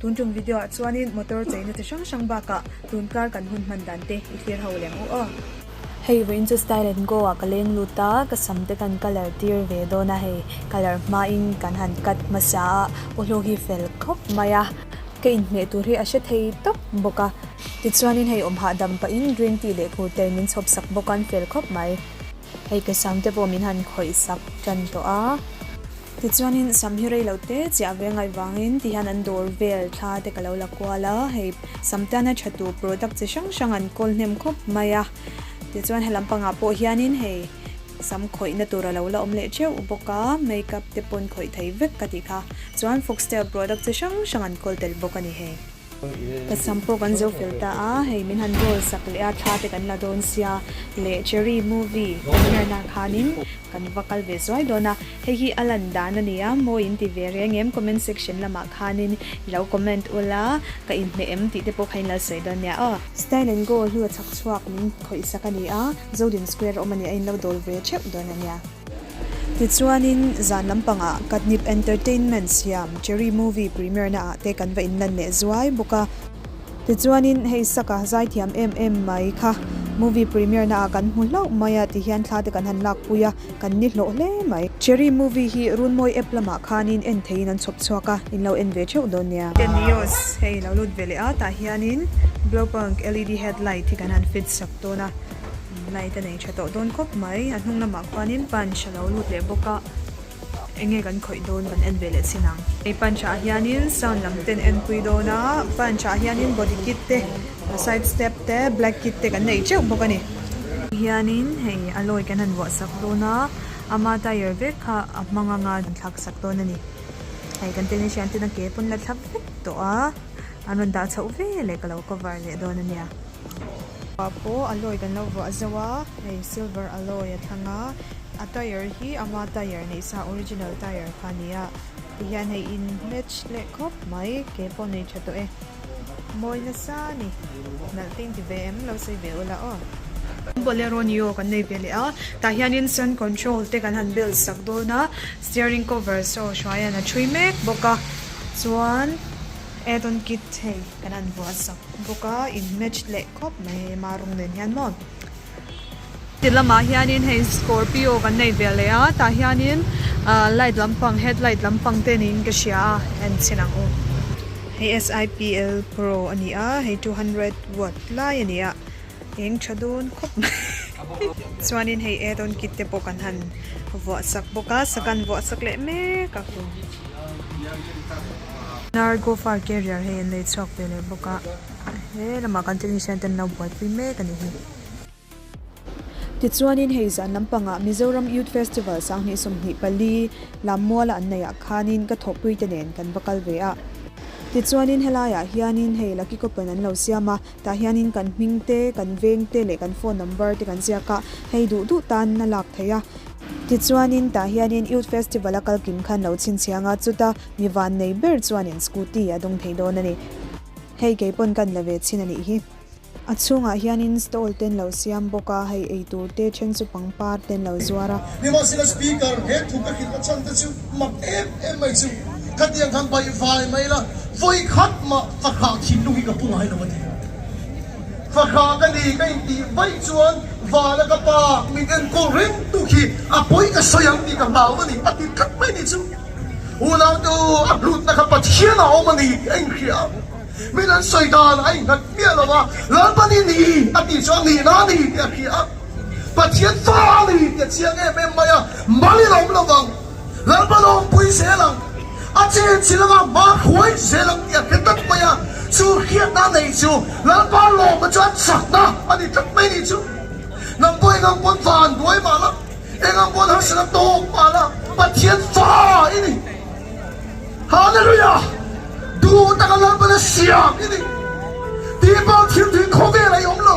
Tun ṭum video ah chuanin motor cheina chi hrang hrang bakah tun kar kan hun hman dan te i fir ho lem u aw. Hei vawiin chu Style and Go ah ka leng lut a, ka sam te kan colour tir ve dawn a, hei colour hma in kan han cut hmasa a, aw hlawk hi fel khawp mai a, ka in hmeh tur hi a hre thei tawp bawk a. Tichuanin hei awm hah dam pah in green tea leh phur ter min chhawp sak bawk a, an fel khawp mai. Hei ka sam te pawh min han khawih sak tan tawh a. Tichuanin sam hi rei lo te chiah ve ngai vangin ti hian an dawr vel thla te ka lo la kual a, hei sam te an a thatu product chi hrang hrang an kawl hnem khawp mai a, tichuan he lam pangah pawh hianin hei sam khawihna tur a lo la awm leh teuh bawk a, makeup te pawn khawih thei vek ka ti kha chuan foxtel product chi hrang hrang an kawl tel bawk a ni hei. Ka sam pawh kan zo fel ta a, hei min han roll sak leh a, thla te kan la dawn sia leh Cherry Movie premiere na khanin kan va kal ve zuai dawn a, hei hi a lan dan a nia maw in ti ve reng em, comment section lamah khanin i lo comment ul a, ka inhmeh em tih te pawh kha in la sawi dawn nia aw. Style and go hnu a chhak chhuak min khawih sak a ni a, Zodin Square a awm a nia in lo dawl ve theuh dawn a nia. Tichuanin zan lampangah Katnip Entertainment siam Cherry Movie Premiere-naah te kan va inlan leh zuai bawk a. Tichuanin hei saka zaithiam em em mai kha Movie Premiere-naah kan hmu hlauh mai a ti hian thla te kan han lakpui a, kan ni hlawh hle mai. Cherry Movie hi Runmawii App lamah khanin en theiin an chhawp chhuak a, in lo en ve theuh dawn nia. Ten views hei lo lut ve leh a tah hianin Blowpunk LED Headlight hi kan han fit sak dawn a. Light a nei tha tawh dawn khawp mai. A hnung lamah khuanin punch a lo lut leh bawk a, eng nge kan khawih dawn kan en ve leh sin ang. Hei punch ah hianin sound lam ten enpui dawn a, punch ah hianin body kit te, side step te, black kit te kan nei teuh bawk a ni. Hianin hei alloy kan han vuahsak dawn a, ama tyre vek kha a hmang anga kan thlak sak dawn a ni. Hei kan technician ten a ke pawn la thlap vek tawh a, an rawn dah chhoh ve leh ka lo cover leh dawn a nia. Pah pawh alloy kan lo vuah zauh a, hei silver alloy a thlang a, a tyre hi ama tyre neih sa original tyre kha a ni a, ti hian hei in match leh khawp mai, ke pawh nei tha tawh e, mawi nasa a ni, nalh ting ti ve em, lo sawi ve u lah aw. Bolero ni aw kan nei ve leh a, tah hianin sun control te kan han bel sak dawn a, steering cover saw hruaiin a thui mek bawk a, chuan add on kit hei. Kan han vuah sak bawk a, in match leh khawp mai hei ema rawng nen hian maw. Ti lamah hianin hei scorpio kan nei ve leh a, tah hianin ah light lampang headlight lampang te niin ka hria a, en chhin ang u. Hei SIPL pro a ni a, hei two hundred watt lai a ni a, Eng tha dawn khawp mai. Chuanin hei add-on kit te pawh kan han vuah sak bawk a, saka an vuah sak leh mek a. Nargo far carrier hei an nei chhuak ve leh bawk a, he lamah kan technician ten an lo buai pui mek a nih hi. Tichuanin hei zan lampangah Mizoram Youth Festival sanghnih sawmhnih pali Lammuala an neih ah khanin ka thawhpuite nen kan va kal ve a. Tichuanin helaiah hianin hei Lucky Coupon an lo siam a. Tah hianin kan hming te, kan veng te leh kan phone number te kan ziak a, hei duh duh tan a lak thei a. Tichuanin tah hianin Youth Festival-a kal kim khan lo chhinchhiang a, chuta mi van nei ber chuanin scooty a dawng thei dawn a ni. Hei kei pawn kan la ve chhin a nih hi. A chhungah hianin stall te an lo siam bawk a, hei eitur te, then chu pangpar te an lo zuar a. Nimahsela Speaker, he thut a khin a chhan te chu mak em em mai chu khatiang khan baih vai mai la, vawi khat mah fakha thinlung hi ka pu ngai lo a ti. Fakha ka ni ka in tih vaih chuan Vala ka pa mit enkawl reng tu khi a pawi ka sawi ang tih ka hlau a ni, a tit khat mai ni chu. Unautu a hlutna kha Pathian a awm a ni tih a in hria ang, min an sawi dan a in nghat miah lo a, Lalpani ni a tih chuan nihna a ni tih a hria ang. Pathian fa a ni tia chiang em em mai a, mal in a awm lo vang, lalpa lawm pui zel ang, a chen si lama hma khuai zel ang tih a hre tlat mai a, chu hriat na nei chu lalpa lawm a chuan chak na a ni tlat mai ni chu. Hnam pawh engang pawn va an duai mah la, engang pawn harsa na tawk mah la, Pathian fa i ni. Hallelujah! Duh taka lalpa na siam i ni. Tih pah thil tui khaw vel a i awm lo.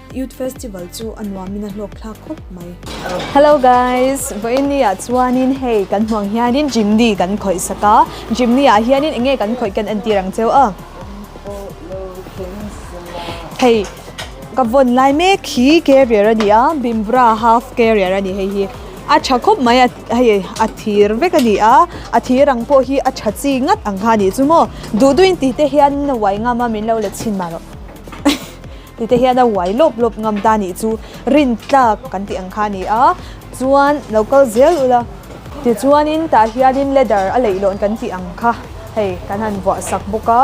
Youth Festival chu a nuamin a hlawk thlak khawp mai. Hello guys, Vaini ah chuanin hei kan hmuh ang hianin Jimny kan khawih sak a, Jimny ah hianin enge kan khawih kan entir ang che a. Hei ka vawn lai mek hi carrier a ni a, Bimvara half carrier a ni hei hi, a tha khawp mai a, hei a thir vek a ni a, a thir ang pawh hi a tha chi ngat ang kha a nih chu maw, duh duh in tih te hianin a uai ngam a, min lo let chhin mahlo. Tute hian a uai lawp lawp ngam ta nih chu rintlak kan tih ang kha a ni a, chuan lo kal zel ula. Tichuanin tah hianin ladder a leih law'n kan tih ang kha, hei kan han vuah sak bawk a.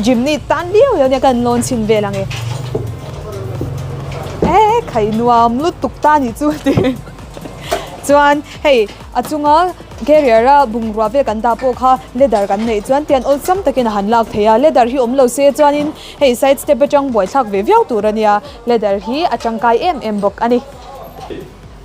Gym ni tan viau viau nia ka han lawn chhin vel ang e. He khai nuam lutuk ta nih chu ti. Chuan hei a chunga carrier a bungrua vel kan dah pawh kha ladder kan neih chuan tian awlsam takin a han lak thei a, ladder hi awm lo se chuanin Hei side step atang buaithlak ve viau tur a nia, ladder hi a tangkai em em bawk a ni.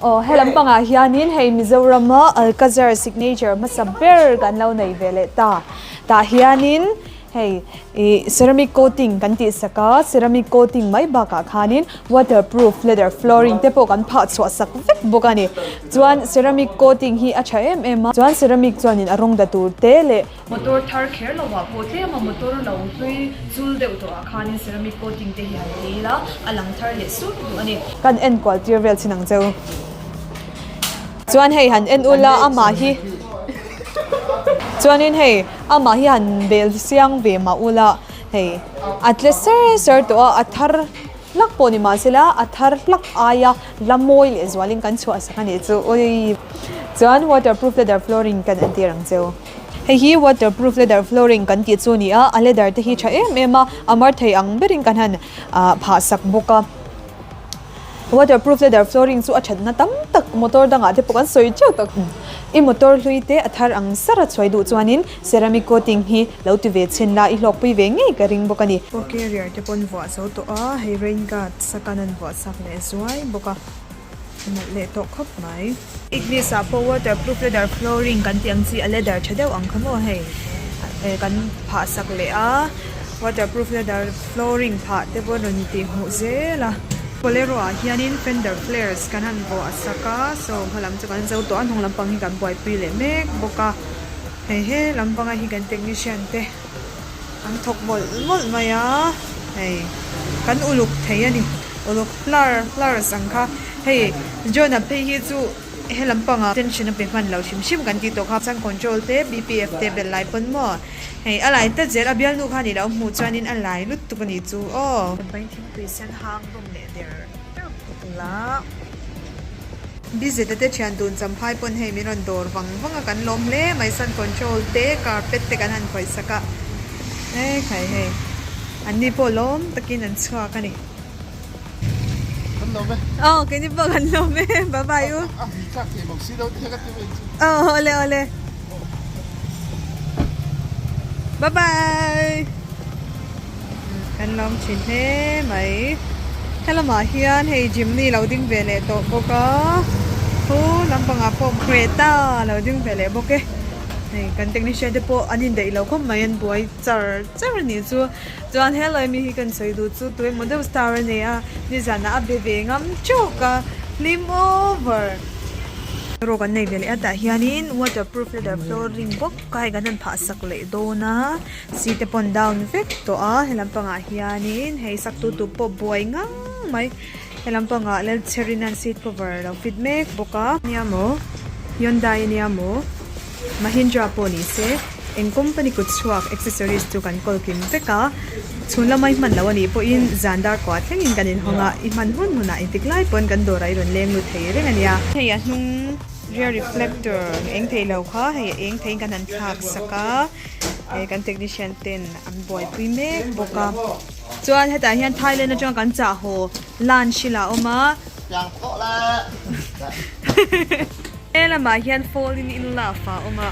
Aw, helam pangah hianin hei Mizorama Alcazar signature hmasa ber kan lo nei ve leh ta. Tah hianin hei ih ceramic coating kan tih sak a, ceramic coating mai bakah khanin waterproof ladder flooring te pawh kan phah chhuah sak vek bawk a ni. Chuan ceramic coating hi a tha em em a, chuan ceramic chuanin a rawng da tur te leh. Motor thar kher lohah pawh tlem a motor lo hlui chul deuh tawhah khanin ceramic coating te hi han tel a, a lang thar leh sut duh a ni. Kan en kual tir vel chin ang che u. Chuan hei han en ul a, amah hi chuanin hei amah hi han bel siang ve mah ul a, hei a tle ser ser tawh a, a thar hlak pawh ni mah se la a thar hlak ai a la mawi leh zualin kan chhuah sak a nih chu ui. Chuan waterproof leather flooring kan entir ang che u. Hei hi waterproof leather flooring kan tih chu a ni a, a leather te hi tha em em a, a mar thei ang berin kan han ah phah sak bawk a. Waterproof leather flooring chu a thatna tam tak motor dangah te pawh kan sawi teuh tak. I motor hlui te a thar ang sar a chhuai duh chuanin ceramic coating hi lo ti ve chhin la, i hlawkpui ve ngei ka ring bawk a ni. Pawh carrier te pawh an vuah zo tawh a, hei rain guard sakanan vuah chak leh zuai bawk a. Nalh leh tawh khawp mai. Ignis ah pawh waterproof leather flooring kan tih ang chi a leather tha deuh ang kha maw hei eh kan phah sak leh a waterproof leather flooring phah te pawh rawn tih hmuh zel a bolero ah hianin fender flares kan han vuah sak a so hma lam chu kan zo tawh a hnung lampang hi kan buaipui leh mek bawk a hei he lam panga hi kan technician te. An thawk mawlh mawlh mai a, hei kan uluk thei a ni, uluk hlar hlar sang kha. Hei Jonah phei hi chu helam panga tension a pe hman lo hrim hrim kan tih tawh kha, sun control te BPF te bel lai pawn maw, hei a lai ta zel a bialnu kha ni loh a hmuh chuan in a lai lut tuk a ni chu aw. Pawi thingpui sen hang bawm leh der. Busy tete thian tun champhai pawn hei min rawn dawr vang vang a, kan lawm hle mai sun control te carpet te kan han khawih sak a, hei khai hei an ni pawh lawm takin an chhuak a ni. Kan lawm e. Aw keini pawh kan lawm e bye bye u. A hming tlak thei bawk si lo tih kha ka ti mai chu. Aw awle awle bye bye. Kan lawm thin hle mai. Helamah hian hei gym ni lo ding ve leh tawh bawk a. Chu lampangah pawh great a lo ding ve leh bawk e. Hei kan technician te pawh an indaih lo khawp mai an buai char char a nih chu. Chuan he lawi mi hi kan sawi duh chu tui emaw deuh star a nei a. Nizanah a be ve ngam teuhka hlim over. Erawh kan nei ve leh a tah hianin waterproof leather flooring bawk a hei kan han phah sak leh dawn a. Sir te pawn down vek tawh a, he lam pangah hianin hei saktu tu pawh buai ngang mai, he lam pangah Lalchherin an seat cover lo fit mek bawk a. Nia maw? Hyundai nia maw? Mahindra pawh ni se, eng company kut chhuak accessories chu kan call kim vek a, chhun lama i hman loh a nih pawhin zan dar kuah thlengin kan inhawng a, i hman hun hunah intik lai pawn kan dawrah i rawn leng lut thei reng a nia. Hei a hnung rear reflector eng theih lo kha hei eng theiin kan han thlak sak a. he kan technician ten an buaipui mek bawk a chuan hetah hian thailand atanga kan chah haw lunch ila awm a chang tawh la he lamah hian fall in in la fa awm a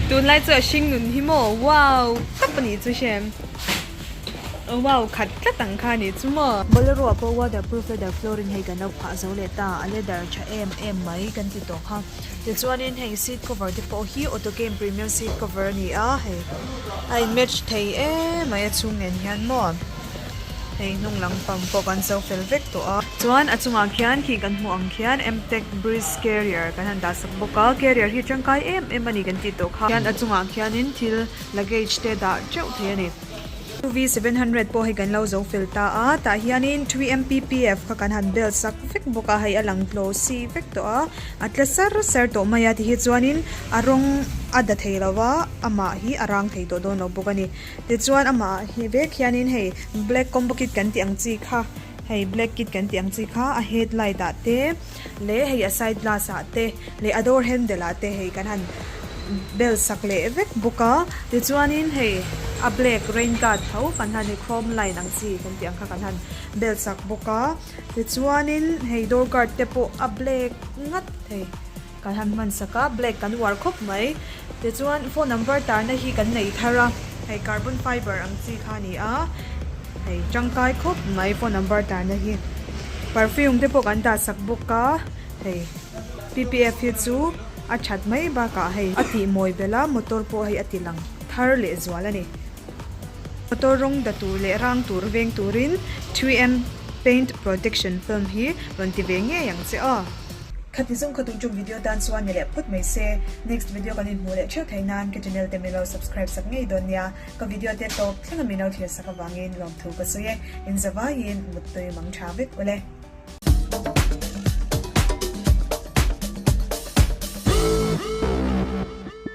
tunlai chu a hring nun hi maw wow tap a nih chu hriam wow khat tlat ang kha nih chu maw bolero a pawh waterproof leather flooring hei kan lo phah zo leh ta a leather tha em em mai kan ti tawh kha Tichuanin heng seat cover te pawh hi auto game premium seat cover a ni a hei a in match thei em mai a chhung nen hian maw hei hnung lam pang pawh kan zo fel vek tawh a. Chuan a chungah khian khi kan hmuh ang khian Mtec Breeze carrier kan han dah sak bawk a carrier hi tangkai em em a ni kan tih tawh kha. Chuan a chungah khianin thil luggage te dah teuh thei a ni. UV seven hundred pawh hei kan lo zo fel ta a, tah hianin three MPPF kha kan han bel sak vek bawk a, hei a lang tlo si vek tawh a, a tle sar sar tawh mai a, ti hi chuanin a rawng a da thei lo va, amah hi a rang thei tawh dawn lo bawk a ni. Tichuan amah hi vek hianin hei black combo kit kan tih ang chi kha, hei black kit kan tih ang chi kha a headlight ah te, leh hei a side glass ah te leh a door handle ah te hei kan han bel sak leh vek bawk a tichuanin hei a black rain guard tho kan han hei chrome line ang chi kan tih ang kha kan han bel sak bawk a tichuanin hei door guard te pawh a black ngat thei kan han hman sak a black kan uar khawp mai. Tichuan, phone number tarna hi kan nei thar a, hei carbon fiber ang chi kha a ni a, hei tangkai khawp mai phone number tarna hi. Perfume te pawh kan dah sak bawk a, hei PPF hi chu a that mai bakah hei a tih mawi belh a, motor pawh hei a ti lang thar leh zual a ni. Motor rawng da tur leh rang tur veng turin three M paint protection film hi rawn ti ve ngei ang che aw. Khati zung kha tuchum video tan chuan ni leh phut mai se, next video kan inhmuh leh theuh theih nan ka channel te min lo subscribe sak ngei dawn nia, ka video te tawp thleng a min lo thlir sak avangin lawmthu ka sawi e, inzavaiin muttui mang tha vek ule.